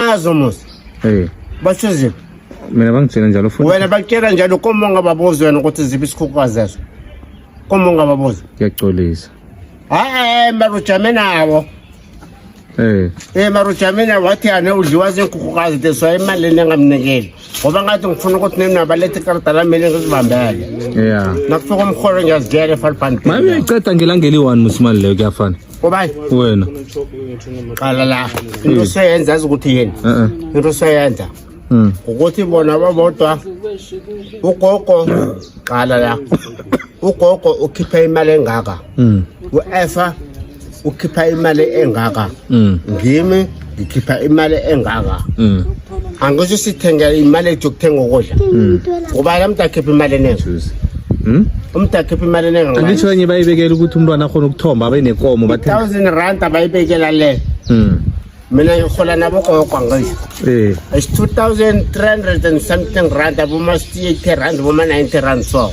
azo mos hey basho ziphi mina bangitshela njalo futhi wena bakutshela njalo koma ungababuzi wena ukuthi ziphi isikhukhukazi zeso koma ungababuzi ngiyaxolisa hayi mara ujame nawo Eh. Eh marujamina wathi yane udliwa zinkhukukazi this waye imali lena ngamnikeli. Ngoba ngathi ngifuna ukuthi nina balethe ikarata lami lena ngizibambele. Yeah. Nakufika umholo ngiyazidela eFalpant. Maye uyiceda ngelangeli 1 musimali leyo kuyafana. Obayi. Wena. Qala la. Into seyenza yazi ukuthi yini? Into seyenza. Mm. Ukuthi bona babodwa ugogo qala la. Ugogo ukhipha imali engaka? Mm. Uefa ukhipha imali engaka? Mm. Ngimi ngikhipha imali engaka mm. angisho sithengela imali ethi yokuthenga ukudla mm. ngoba la mntu akhipha imali eningi hmm? umntu akhipha imali eningi angisho enye bayibekela ukuthi umntwana akhona ukuthomba abe nekomo thousand rand abayibekela le hmm. mina ngihola nabo gogo angisho eh. it's two thousand three hundred and something rand aboma-eighty rand boma-ninety rand so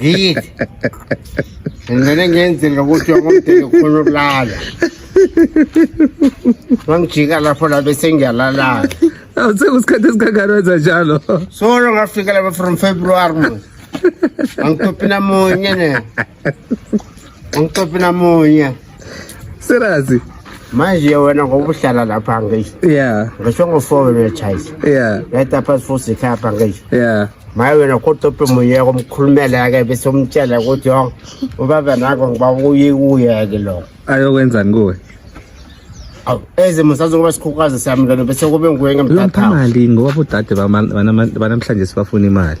Yithi. Ngene ngenzela ukuthi wakomdeni ufuna ukulala. Wangijika lapho la bese ngiyalala. Awu sekusikhathi esikangani wenza njalo. Solo ngafika lapha from February manje. Angitophi namunye ne. Ngixoxe namunye. Seriously? manje wena ngoba uhlala lapha ngisho yeah ngisho ngofowenu yechayisa yeah yayita phasi futhi ikhapha ngisho yeah maye wena kodwa uphi muyeka umkhulumela-ke bese umtshela ukuthi yo ubaba nako ngiba uye kuye-ke lokho ayokwenzani kuwe awu ezimo sazokuba sikhukazi sami lona bese kube nguye ngemthathayo mali ngoba bodade banamhlanje sibafuna imali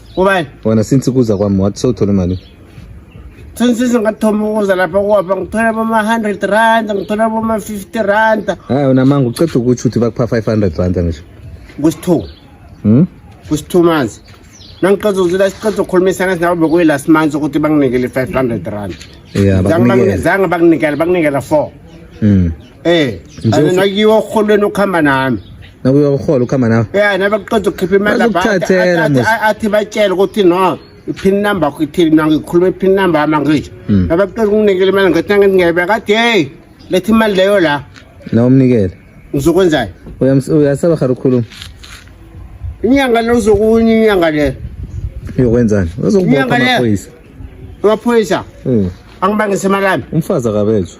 Ubani? Wena since kuza kwami wathi sewuthole imali. Since singathoma ukuza lapha kwapha ngithola boma 100 rand, ngithola boma 50 rand. Hayi wena manga uqeda ukuthi uthi bakupha 500 rand ngisho. Kusithu. Hmm? Kusithu manje. Nangiqeda uzila siqeda ukukhulumisana sinawe bekuyi last month ukuthi banginikele 500 rand. Yeah, bakunikele. Zange bakunikele, bakunikela 4. Mm. Eh, Nje and ufu- nakiwa uholweni ukuhamba nami. nakuye uhola ukhamba nawe Yeah, nabakuqeda ukukhipha imali lapha, Bazokuthathela, athi- athi- Musa. athi batshele ukuthi no iphini number yakho ithini mina ngikhuluma iphini number yami angisho Mm. nabakuqeda ukunginikela imali ngathi angingebe kathi hey lethi imali leyo la nawe umnikele ngizokwenzani Uyams- uyasaba khara ukukhuluma inyanga le uzokunye inyanga le uyokwenzani uzokubopha Inyanga le. amaphoyisa amaphoyisa Mm. angibangise imali yami umfazi akabezwa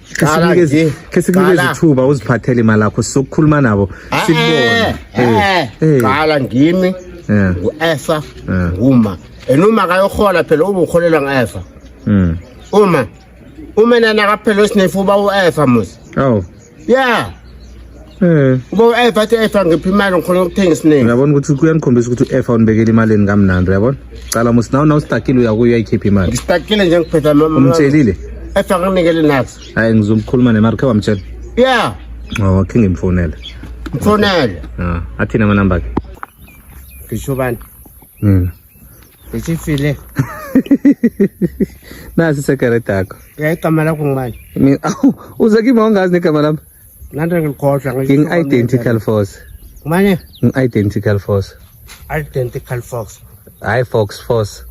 khesikunike izithuba uziphathele imali yakho sizokukhuluma nabo sikubone qala ngimi ngu-efa nguma and uma kayohola phela ube uholelwa ngu-efa hmm. uma uma nana kaphela osinefu uba u-efa musi oh ya Eh. Uba u-F athi F angiphi imali ngikhona ukuthenga isiningi. Uyabona ukuthi kuyanikhombisa ukuthi u-F awunibekeli imali eni kamnandi uyabona? Cala musi nawe nawe stakile uya kuyo uyayikhipha imali. Ngistakile nje ngiphetha mama. Umtshelile? F anginikele nazo. Hayi ngizomkhuluma nemari khe wamtshela. Yeah. Oh, khe ngimfonele. Mfonele. Ah, athina amanamba akhe. Ngisho bani? Mina. Bese file. Nasi secret yakho. Eh igama lakho ngubani? Mina awu uze kimi awungazi negama lami. Nanda ngikhohlwa ngisho. Ngi identical force. Ngubani? Ngi identical force. Identical force. Hayi fox force.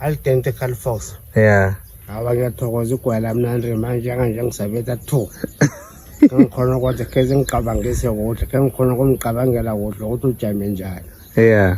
Identical force. Yeah. Hawa ngiyathokoza igwala mina Andre manje kanje ngisabetha 2. Ngikhona kodwa keze ngicabangise kodwa, ngikhona kumcabangela kodwa ukuthi ujame njani. Yeah.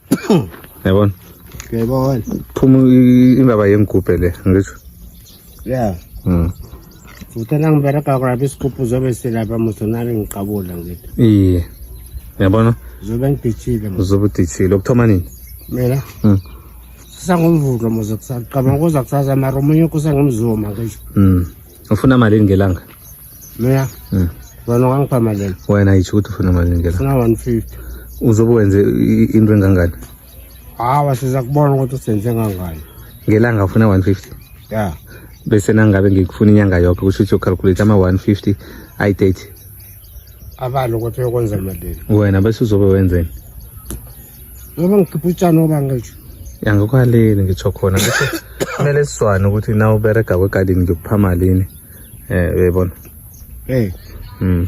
yabona uyayibona phuma i- indaba yengigubhe le ngisho ya Mm. futhi nangibereka kurapha isigubhu zobe silapha musonari ngiqabula ngithi iye yabona zobe ngidishile mos uzobe udithile ukuthoma nini mina Mm. sisangumvulo mos kusacabanga kuza kusasa mara omunye kusangumzuma ngisho Mm. ufuna malini ngelanga mina mm. wena ungangipha malini wena yitsho ukuthi ufuna malini ngelanga funa 150 uzobe wenze into engangani hawa siza kubona ukuthi usenze ngangani ngelanga ufuna 150 ya bese nangabe ngikufuna inyanga yonke kusho ukuthi ucalculate ama-150 ayi-30 abalo ukuthi uyokwenza malini wena bese uzobe wenzeni noma ngikhipha utshani oba ngisho yangikwaleli ngitsho khona ngisho kumele sizwane ukuthi na uberega kwegadini ngikupha malini um uyayibona um hmm.